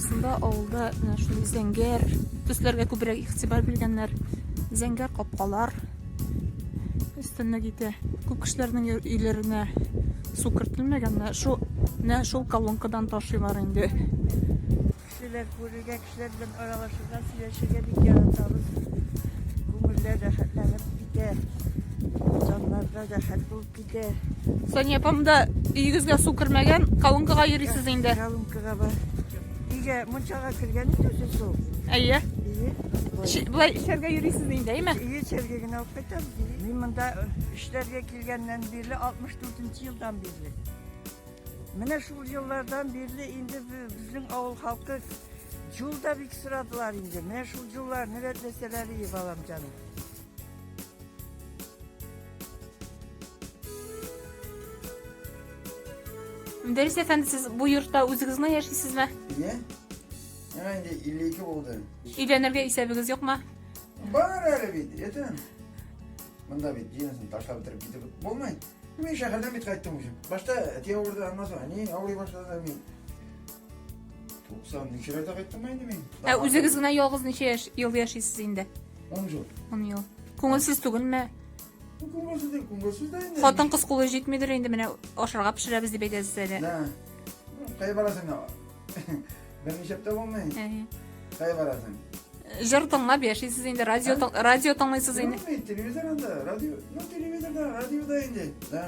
Шунда авылда менә шундый зәңгәр төсләргә күбрәк игътибар биргәннәр. Зәңгәр капкалар өстенә китә. Күп кешеләрнең өйләренә су кертелмәгән, менә шул менә шул колонкадан ташыйлар инде. Кешеләр күрергә, кешеләр белән аралашырга, сөйләшергә бик яратабыз. Күңелләр рәхәтләнеп китә. Җаннарда рәхәт булып Китә. Сания апам да өйегезгә су кермәгән, калынкага йөрисез инде. Калынкага бар. Өйгә мунчага кергән инде үзе су. Әйе. Әйе. Былай эшләргә йөрисез инде, әйме? Әйе, эшләргә генә алып кайтабыз. Мин монда эшләргә килгәннән бирле 64 елдан бирле. Менә шул еллардан бирле инде безнең авыл халкы Жул да бик сорадылар инде. Менә шул жулларны рәтләсәләр, балам җаным. Мөдәррис әфәнде, сез бу йортта үзегез генә яшисезме? Иә. Миңа инде 52 булды. Өйләнергә исәбегез юкмы? Бар әле бит, әтә. Монда бит җинәсен ташлап бетереп китеп булмый. Мин шәһәрдән бит кайттым үзем. Башта әти авырды, аннан соң әни авырый башлады. Мин Туксан ничәләрдә кайттым инде мин? Ә үзегез генә ялгыз ничә яшь ел яшисез инде? 10 ел. 10 ел. Күңелсез түгелме? Күңелсез дә, күңелсез дә инде. Хатын кыз кулы җитмидер инде менә ашарга пешерәбез дип әйтәсез әле. Нә. Кая барасың ана? Берничә тә булмый. Кая барасың? Җыр тыңлап яшисез инде, радио радио тыңлыйсыз инде. Телевизор анда, радио, ну телевизорда, радиода инде. Да.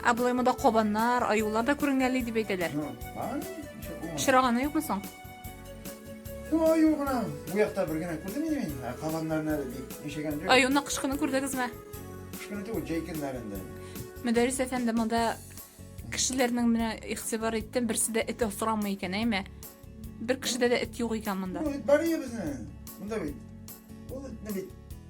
Ә болай монда кабаннар, аюлар да күренгәли дип әйтәләр. Очраганы юкмы соң? Аю гына. Бу якта бер генә күрдем инде мин. Ә кабаннарны әле бик ишегән юк. Аюны кышкыны күрдегезме? Кышкыны түгел, җәй көннәрендә. Мөдәррис әфәнде, монда кешеләрнең менә игътибар иттем, берсе дә эт осрамый икән, әйме? Бер кешедә дә эт юк икән монда. Бу бит бар ие безнең. Монда бит. Ул эт бит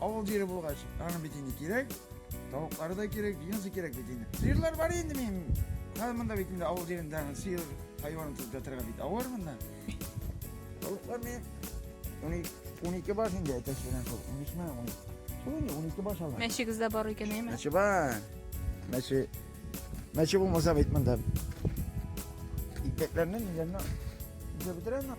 Авыл җире булгач, аның бит инде кирәк. Тавыклары да кирәк, дөньясы кирәк бит инде. Сыерлар бар инде минем. Хәзер монда бит инде авыл җирендә сыер хайванын тотып ятырга бит авыр монда. Тавыклар мин 12 баш инде әтәч белән шул. 13 мә, 12. Шул инде 12 баш алган. Мәчегез дә бар икән, әйме? Мәче бар. Мәче. Мәче булмаса бит монда. Икмәкләрне, ниләрне, бетерәме?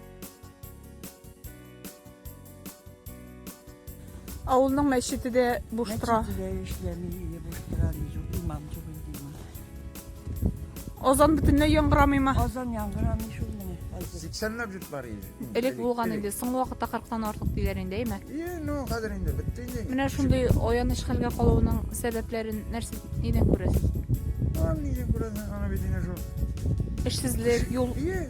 Авылның мәчете дә буш тора. Мәчете дә эшләми, инде буш тора, юк, имам юк инде имам. Азан бөтенләй яңгырамыймы? Азан яңгырамый шул менә. хәзер. 80-ләп җут бар иде. Элек булган инде. Соңгы вакытта 40-тан артык диләр инде, әйме? Е, ну, хәзер инде бетте инде. Менә шундый аяныч хәлгә калуының сәбәпләрен нәрсә нидән күрәсез? Аны нидән күрәсең, аны бит инде шул. Эшсезлек, юл Е,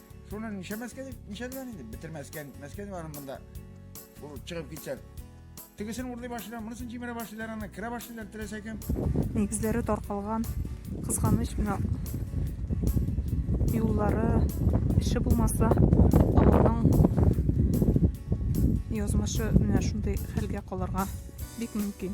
Шуны нишәмәскә дип, нишәдән инде, бетермәскә, нитмәскә дип аның монда ул чыгып китсә. Тегесен урлый башлыйлар, монысын җимерә башлыйлар, аны керә башлыйлар теләсә кем. Нигезләре таркалган, кызганыч менә юллары эше булмаса, авылның язмышы менә шундый хәлгә калырга бик мөмкин.